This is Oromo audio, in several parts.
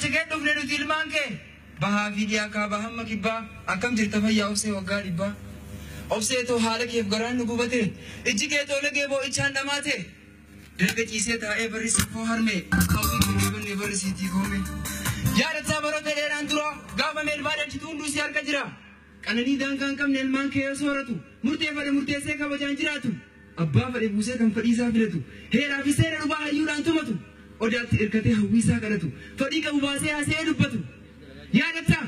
Si gad dhufne nuti ilmaan kee. Bahaa fi dhiyaa kaabaa hamma kibbaa akkam jirta fayyaa obsee waggaa dhibbaa. Obsee too haala keef garaan nu gubate ijji kee too lagee boo'ichaan dhamaate. Dalga ciisee taa'ee barrisii koo harmee kaawwii koo hin banne barrisiitii koome. Yaadataa baroota dheeraan dura gaafa meelbaa dhalchitu hunduu si harka jira. Qananii daangaa hin qabne ilmaan kee yoo sooratu murteeffadhe murteessee kabajaan jiraatu. Abbaa fadhe buusee kan fadhiisaa filatu, heeraa fi seera dhubaa hayyuudhaan tumatu, odaatti irkatee hawwiisaa kadhatu, fadhii qabu baasee haasa'ee dubbatu. Yaadattaa?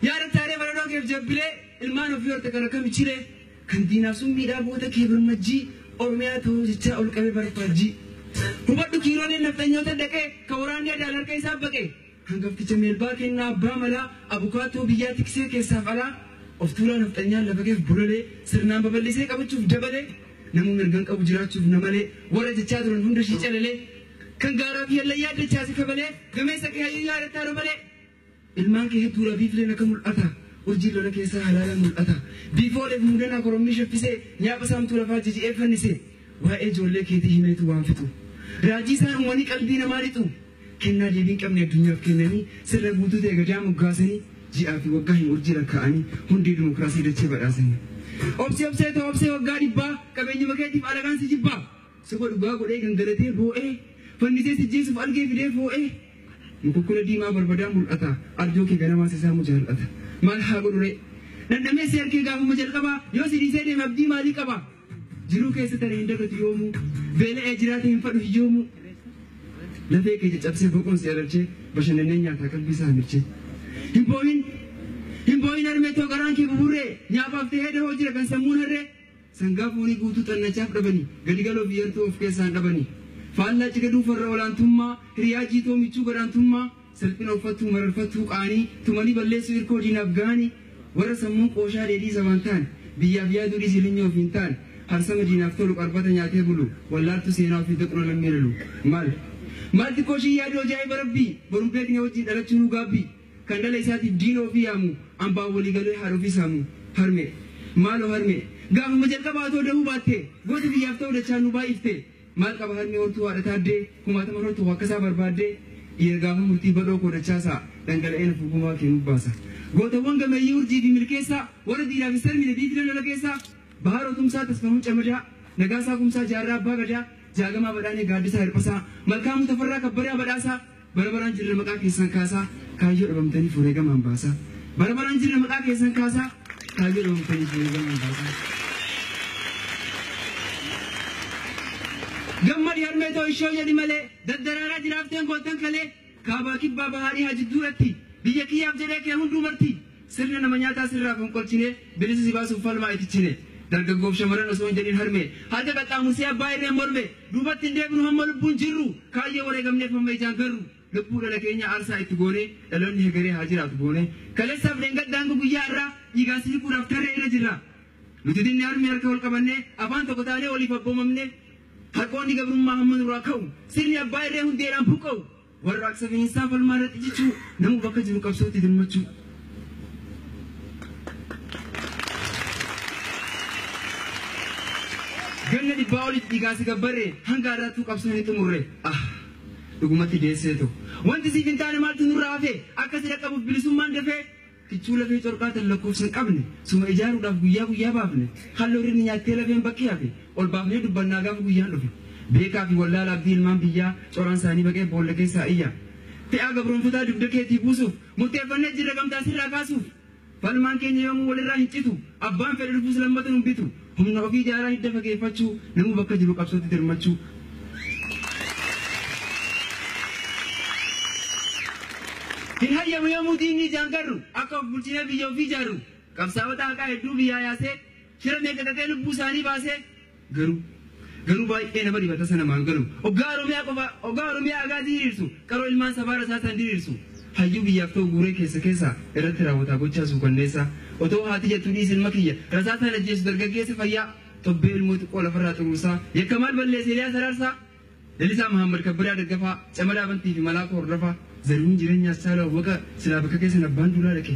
Yaadattaa ree baredoo keef jabbilee, ilmaan ofii horte kan akkam ichilee, kan diinaaf summiidhaa goota kee birmajjii, Oromiyaa ta'uu jechaa ol qabee barfaajjii. Hubadhu kiirooleen nafxanyoota daqee, kan waraanni adaan harka isaa baqee. Hangafticha Melbaa Kennaa Abbaa Malaa abukaattoo biyyaa tiksee keessaaf alaa of tuulaa nafxanyaan lafa keef bololee sirnaan babal'isee qabachuuf dabalee namuu mirgan qabu jiraachuuf na malee warra jechaa turan hunda ishii calalee kan gaaraa fi hallayyaa dachaase kabalee gameessa kee hayyuu yaadattaa robalee ilmaan kee hedduudha biifleen akka mul'ata urjii lola keessaa halaalaan mul'ata biifooleef muudanaa korommii shaffisee nyaapha saamtuu lafaa jiji'ee fannise waa'ee ijoollee keetii himeetu waan fixu raajii isaan uumanii qalbii namaa lixu Kennaa deebii hin qabne addunyaaf kennanii, sirna guutuu ta'e gadaa moggaasanii, ji'aa fi waggaa hin urjii lakkaa'anii, hundee dimokiraasii dachee badhaasanii. Obsi obsee too obsee waggaa dhibbaa, qabeenyuma keetiif alagaan si jibbaa. Soba dhugaa godhee gangalatee boo'ee, fannisee si jeesuuf algee fidee foo'ee. Mukukkula diimaa barbadaa mul'ata, arjoo kee ganamaa si saamu jaal'ata. Maal haa godhuree? Dhandhamee si arkee gaafuma jalqabaa, yoo si dhiisee deeme abdii maalii qaba? Jiruu keessa tana hin dagatu yoomuu Beela'ee jiraate hin fadhu hiyyoomuu Lafee kee caccabsee boqoon si ararchee Bashannannee nyaataa qalbii isaa hamirchee Hin boohin Hin boohin harmee too garaan kee buburree Nyaafaaf ta'ee dahoo jira kan sammuun harree Sangaa foonii guutuu xannachaaf dhabanii Gadigaloo fi yartuu of keessaan dhabanii Faallaa cigaduu farra olaantummaa Hiriyaa jiitoo michuu gadaantummaa Salphina uffattuu mararfattuu qaanii tumanii balleessuu hirkoo diinaaf ga'anii warra sammuun qooshaa dheedhii sabaan taane biyyaaf yaaduu dhiisii linyoo ofiin taane harsama diinaaf tolu qarbata nyaatee bulu wallaaltuu seenaa ofii daqna lammii lalu maal maal xiqqoo ishii yaaduu ajaa'iba rabbii borun beeknee wajjin dhalachuu nuu gaabbii kan dhala isaatiif diina ofii yaamu ambaan walii galee haadha ofii saamu harmee maaloo harmee gaafuma jalqabaa otoo dahuu baattee goota biyyaaf ta'uu dachaan nu baay'iftee Maal qaba harmi hortuu haadha taaddee kumaatama irratti hoo akkasaa barbaaddee dhiira gaafa murtii badhoo koo dachaasaa dhangala'ee nafu gumaa kee nubbaasa gootawwan gameeyyii urjii fi milkeessaa warra diiraaf hin sarmine diigdee lola keessaa bahaaroo tumsaa tasfahuu camadaa nagaasaa kumsaa jaarraa abbaa gadaa jaagamaa badhaanee gaaddisaa hirphasaa malkaamuu tafarraa kabbadaa badhaasaa Bara baraan jirra maqaa keessan kaasaa Kaayyoo dhabamtaniif wareegamaan baasaa Bara baraan jirra maqaa keessan kaasaa Kaayyoo dhabamtaniif wareegamaan baasaa Gammadi harmee too ishoo jedhi malee Daddaraaraa jiraafteen goottan kalee Kaabaa kibbaa bahaa dhihaa jidduu irratti Biyya kiyyaaf jedhee kee hunduu marti Sirna nama nyaataa sirraa fonqolchinee, bilisa si baasuuf falmaa itti chine. Dargaggoof shamarran osoo hin jedhin harmee, harka qaxxaamursee abbaa irreen morme. Duubatti hin deebinu hamma lubbuun jirru, kaayyoo wareegamneef hamma ijaan garru. Lubbuu dhala keenyaa aarsaa itti goonee, dhaloonni hegeree haa jiraatu boonee. Kaleessaaf dheengadda hanga guyyaa har'aa, dhiigaan si hiquudhaaf tarree irra jirra. Nuti dinni harmee harka wal qabannee, afaan tokko taanee waliif abboomamnee. Harqoonni gabrummaa hamma nurraa ka'u, sirni abbaa irree hundeedhaan buqqa'u. Warraaqsa bineensaa falmaa irratti cichuu, namuu bakka jiru qabsootti dirmachuu. Ganna dhibbaa oliif dhiigaan si gabbarre, hanga har'aattuu qabsoo hin xumurre. Ah! Dhugumatti deesseetu. Wanti siif hin taane maaltu nurraa hafe? Akka si dhaqqabuuf bilisummaan dafee. Kichuu lafee corqaa tan lakkoofsa hin qabne suma ijaaruudhaaf guyyaa guyyaa baafne halloo rirmi nyaattee lafeen bakki hafe ol baafnee dubbannaa gaafa guyyaan dhufe beekaa fi wallaala abdii ilmaan biyyaa coraan saanii baqee boolla keessaa iyya fe'aa gabroomfataa dugda keetii buusuuf murteeffannee jirra gamtaa sirraa kaasuuf falmaan keenya yoomuu walirraa hin citu abbaan fedhe dhufus lammata nun bitu Humna ofii jaalaa hidda fageeffachuu, namuu bakka jiru qabsootti dirmachuu. Hin hayyamu yoomuu diinni ijaan garru, akka of bulchinee biyya ofii ijaarru. Qabsaa'ota haqaa hedduu biyyaa yaasee, shira meeqa xaxee lubbuu isaanii baasee. Garuu garuu baay'ee nama dhiba tasa namaan galu. Oggaa Oromiyaa qofa, oggaa Oromiyaa agaazii hiriirsu. Qaroo ilmaan sabaa rasaasaan diriirsu, hayyuu biyyaaf ta'u guuree keessa keessa irratti raawwataa gochaa suukanneessaa, otoo haati jettu dhiisi ilma kiyya rasaasaan ajjeesu dargaggeessa fayyaa tobbee ilmoo xiqqoo lafarraa xuruursaa, yakka maal balleesse Eliyaas Araarsaa, Lalisaa Mahaammad Kabbada Daggafaa, Camadaa Bantii fi Malaakoo Hordofaa, Zarihuun Jireenyaa Assaaluu Awwaqa silaa bakka keessan abbaan duulaa dhaqe,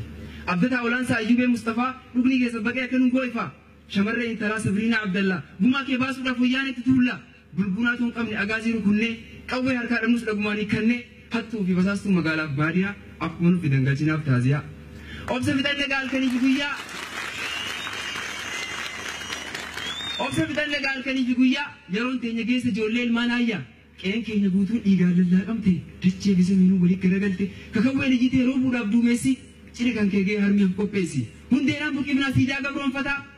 Abdataa Olaansaa Ayyubee Mustafaa dhugni keessan baqee akka nu goo'e faa, shamarree intalaa Sabriinaa Abdallaa gumaa kee baasuudhaaf wayyaaneetti tuullaa, Bulbulaa tun qabne Agaazii rukunnee, qawwee harkaa dhabnus dhagumaan hiikkannee, hattuu fi basaastuu magaalaaf baadiyaa, akkuma nu fidan galchinaaf taaziyaa. Obsa fixanne egaa halkanii fi guyyaa. Obsa fixanne egaa halkanii fi guyyaa, yeroon teenya geesse ijoollee ilmaan aayyaa. Qe'een keenya guutuun dhiigaan lallaaqamte, dachee fi samiinuu waliin garagalte, kakawween iyyitee roobuudhaaf duumessi, ciri kan kee ga'ee harmi of qopheessi. Hundeedhaan buqifnaa siidaa gabroonfataa,